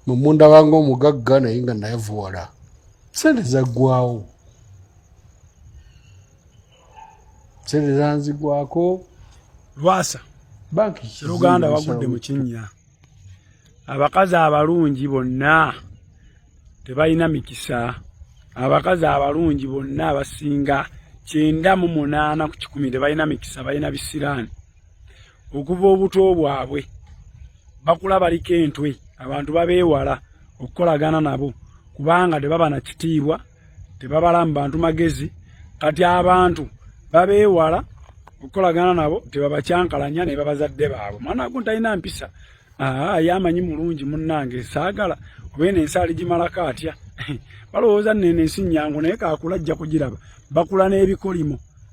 mumundaba nga omugagga naye nga nayavuwala sente zaggwawo sente zanzigwako lwasa banki luganda wagudde mu kinnya abakazi abalungi bonna tebalina mikisa abakazi abalungi bonna abasinga kyenda mu munaana ku kikumi tebalina mikisa balina bisiraani okuva obuto bwabwe bakula baliko entwe abantu babeewala okukolagana nabo kubanga tebaba na kitiibwa tebabala mu bantu magezi kati abantu babeewala okukolagana nabo tebabakyankalanya ne babazadde baabwe mwana ago ntalina mpisa aa yamanyi mulungi munnange saagala oba eno ensi aligimalako atya balowooza nene ensi nyangu naye kakula ajja kugiraba bakula n'ebikolimo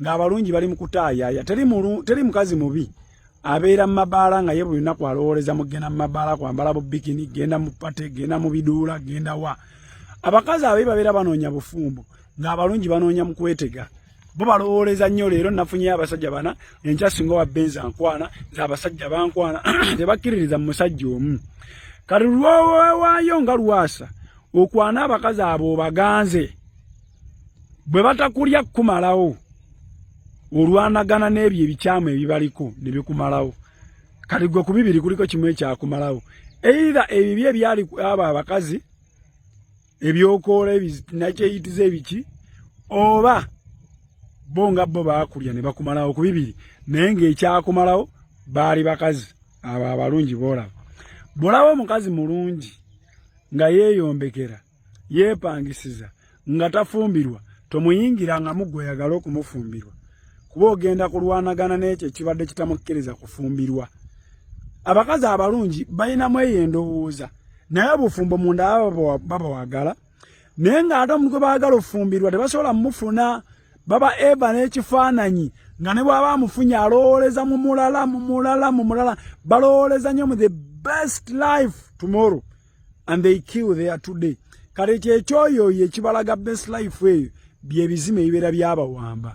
ng'abalungi bali mu kutaayaaya teri mulu teri mukazi mubi abeera mu mabaala nga ye buli lunaku alowooleza mu kugenda mu mabaala kwambala bu bikini genda mu pate genda mu biduula genda wa abakazi ababi babeera banoonya bufumbo ng'abalungi banoonya mu kwetega bo balowooleza nnyo leero nafunyeyo abasajja bana enkya singa owa benzi ankwana nze abasajja bankwana tebakkiririza mu musajja omu kati lwowewaayo nga lwasa okwana abakazi abo obaganze bwe batakulya kukumalawo olwanagana n'ebyo ebikyamu ebibaliko ne bikumalawo kati gwe ku bibiri kuliko kimu ekyakumalawo eira ebibi ebyali abo abakazi ebyokoola nakyeyitiza ebiki oba bo nga bo baakulya ne bakumalawo ku bibiri naye ng'ekyakumalawo baali bakazi abo abalungi boolaba bwolaba omukazi mulungi nga yeeyombekera yeepangisiza nga tafumbirwa tomuyingira nga mugwe oyagala okumufumbirwa kuba ogenda kulwanagana n'ekyo ekibadde kitamukkiriza kufumbirwa abakazi abalungi balinamu eyo endowooza naye obufumbo munda baba wagala naye ng'ate omuntu gwe baagala okufumbirwa tebasobola mumufuna baba eva n'ekifaananyi nga ne bwaba amufunye alowooleza mu mulala mu mulala mu mulala balowooleza nnyo mu the best life tomorrow and they kill there today kale kyekyoyo oyo ekibalaga best life eyo byebizima ebibeera byabawamba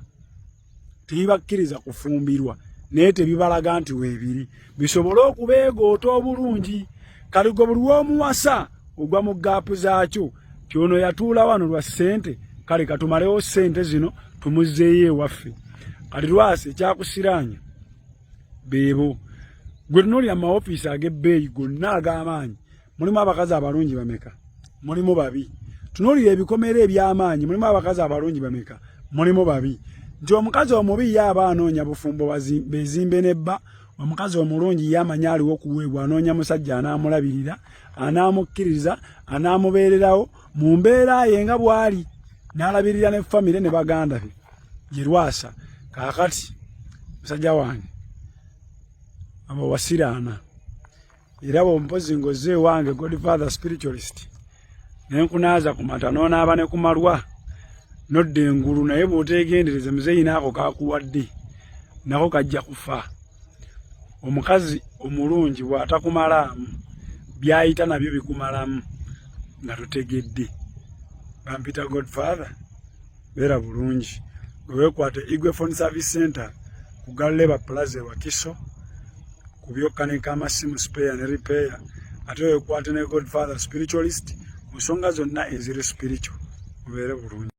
tebibakkiriza kufumbirwa naye tebibalaga nti weebiri bisobole okubeegoota obulungi kale gwe buli womuwasa ogwa mu gaapu zaakyo kyono yatuula wano lwa ssente kale katumalewo ssente zino tumuzzeeyo ewaffe kale lwasi ekyakusiraanya beebo gwe tunooli amaofiisi ag'ebbeeyi gonna ag'amaanyi mulimu abakazi abalungi bameka mulimu babi tunoolira ebikomera eby'amaanyi mulimu abakazi abalungi bameka mulimu babi nti omukazi omubi ye aba anoonya bufumbo bezimbe ne bba omukazi omulungi ye amanyi aliwo okuweebwa anoonya musajja anaamulabirira anaamukkiriza anaamubeererawo mu mbeera ye nga bw'ali n'alabirira ne famire ne baganda be Jerwasa kakati musajja wange abo wasiraana era bwe mpozi ngoze ewange godfather spiritualist ne nkunaaza ku mata n'onaaba ne ku malwa nodda engulu naye bw'oteegendereze muzeeyi naako kakuwadde nako kajja kufa omukazi omulungi bw'atakumalaamu by'ayita nabyo bikumalamu nga totegedde bampita godfather beera bulungi nga wekwata igwe phone service center ku galeba plaza ewakiso ku byokkanika amasimu spare ne repair ate wekwate ne godfather spiritualist mu nsonga zonna eziri spiritual mubeere bulungi